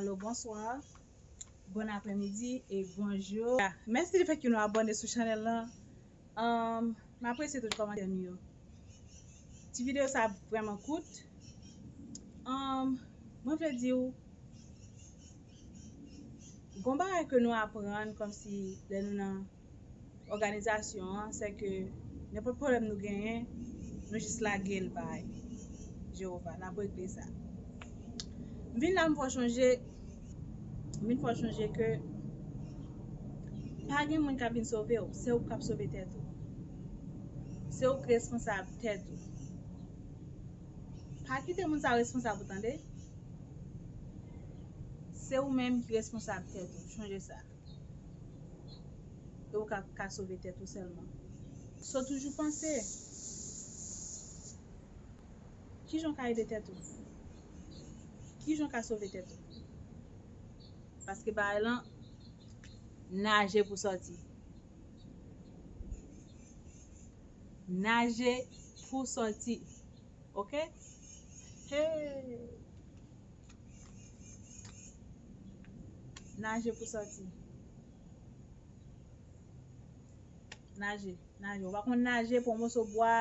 Alo bonswa, bon aprè midi e bonjou. Mèsi di fèt ke nou abòne sou chanèl lan. M apresye tout kòmantè nou yo. Ti videyo sa vrèman kout. Mwen vle di ou, gon bagay ke nou aprann kòmsi lè nou nan. òganizasyon an se ke nenpòt pwoblèm nou genyen, nou jis lage l bay Jewova, l ap regle sa. M vin la m fè w chonje, m vin fè w chonje ke pa gen moun k ap vin sove w, se ou k ap sove tèt ou. Se ou k responsab tèt ou. Pa kite moun sa yo responsab ou tande. Se ou menm ki responsab tèt ou, chonje sa. E ou ka ka sove tèt ou sèlman. So toujou panse. Kijan ou ka ede tèt ou? Kijan ou ka sove tèt ou? Paske bagay lan naje pou sòti. Naje pou sòti. ok hee naje pou sòti naje naje ou pa konn naje pwan moso bwa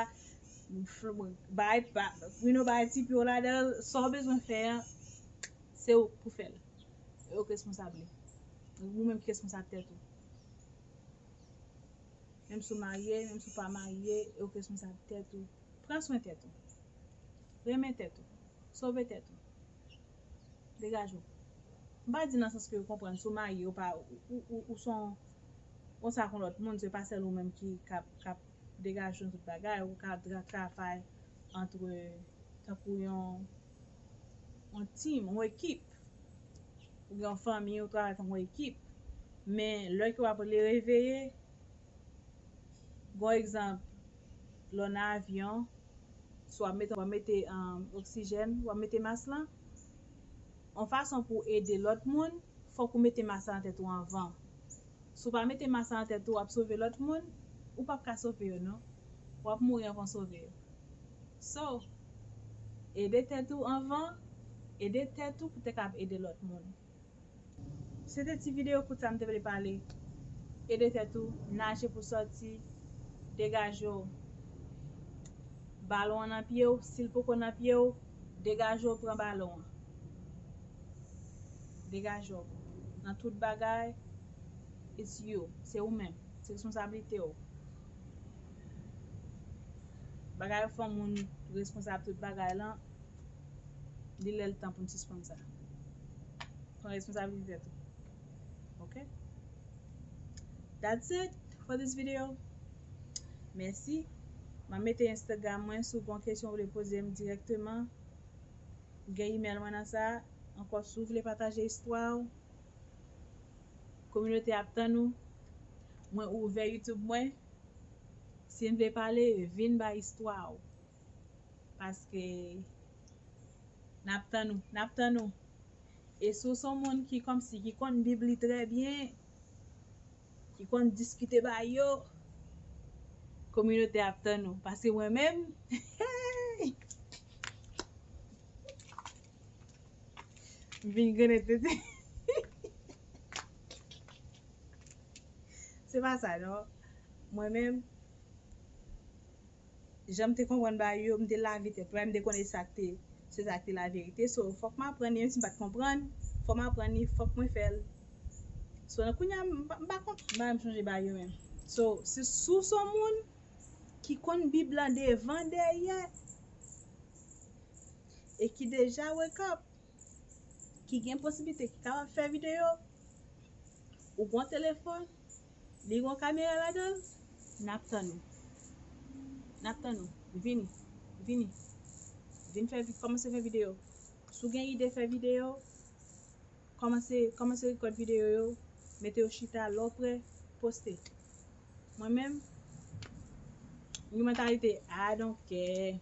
bay you know bay ti pye w ladan l sa w bezwen fè an se ou k pou fè l e ou k responsab li ou menm ki responsab tèt ou menm si w marye menm si w pa marye e ou k responsab tèt ou. Pran swen tèt ou. Renmen tèt ou. Sove tèt ou. Degaje w. M pa di nan sans ke yo konprann si w marye ou pa ou se yon ou sa kon lòt moun se pa sèl ou menm ki k ap degaje w nan tout bagay ou ka travay antre tankou yon yon team yon ekip ou gen yon fanmi ou travay tankou yon ekip men lè ke w ap reveye Bon egzanp, lè w nan avyon, si w ap mete, w ap mete oksijèn, w ap mete mas lan, yon fason pou w ede lòt moun, fòk ou mete mas lan nan tèt ou anvan. Si w pa mete mas lan nan tèt ou, w ap sove lòt moun, ou p ap ka sove yo non. W ap mouri anvan w sove yo. So, ede tèt ou anvan, ede tèt ou pou te kab ede lòt moun. Se te ti video kout sa m te vle pale. Ede tèt ou, naje pou sòti, degaje w. Balon an nan pye w, si l poko nan pye w, degaje w pran balon an. Degaje w. Nan tout bagay, it's you. Se ou menm. Se responsablite w. Bagay ou fè w moun responsab tout bagay lan. Li lè l tan pou n sispann sa. Pran responsabilitet ou. Ok? That's it for this video. Mèsi. M ap mete Instagram mwen si w gen yon kesyon ou vle poze m dirèkteman. Ou gen email mwen nan sa. Ankò si w vle pataje istwa ou, kominote a ap tann ou. Mwen ouvè YouTube mwen. Si n vle pale, vin bay istwa ou. Paske nap tann ou nap tann ou e si w son moun ki kòmsi ki konn bib li trè byen ki konn diskite bagay yo kominote a ap tann ou paske mwen menm eeyy m vin grenn se pa sa non mwen menm Janm te konprann bagay yo, m te lave tèt mwen, m te konnen sa k te se sa k te la verite so fòk m aprann li menm si m pa t konprann fò m aprann li fòk mwen fè l so nan kounya m pa m pa konn bagay m sonje bagay yo menm so se si w se yon moun ki konn bib lan devan dèyè e ki deja wake up. ki gen posiblite ki kapab fè videyo, ou gon telefòn, li gon kamera ladan l, nap tann ou. Nap tann ou. Vini. Vini. Vini fè vi, kòmanse fè videyo. Si w gen ide fè videyo, kòmanse, kòmanse rekòd videyo yo, mete yo chita, lè w prè, poste. Mwen menm, m gen mantalite I don't care,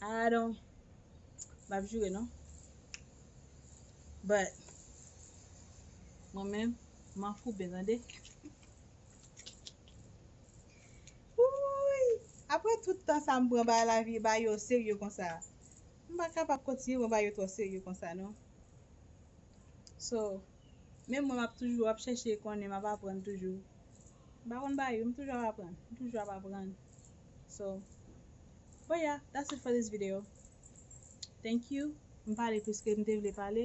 I don't, Map jure non. But. Mwen menm. M'en fou ben tande. Ouuyy. Apre tout tan sa m pran bay la vie bay yo serye konsa. M pa kapab kontinye pran bay yo tro serye konsa non. So. Menm mwen map toujou ap chèche konnen map aprann toujou. M pa konn bay yo m toujou ap aprann. M toujou ap aprann. So But yeah that's it for this video Thank you M pale plis ke m te vle pale.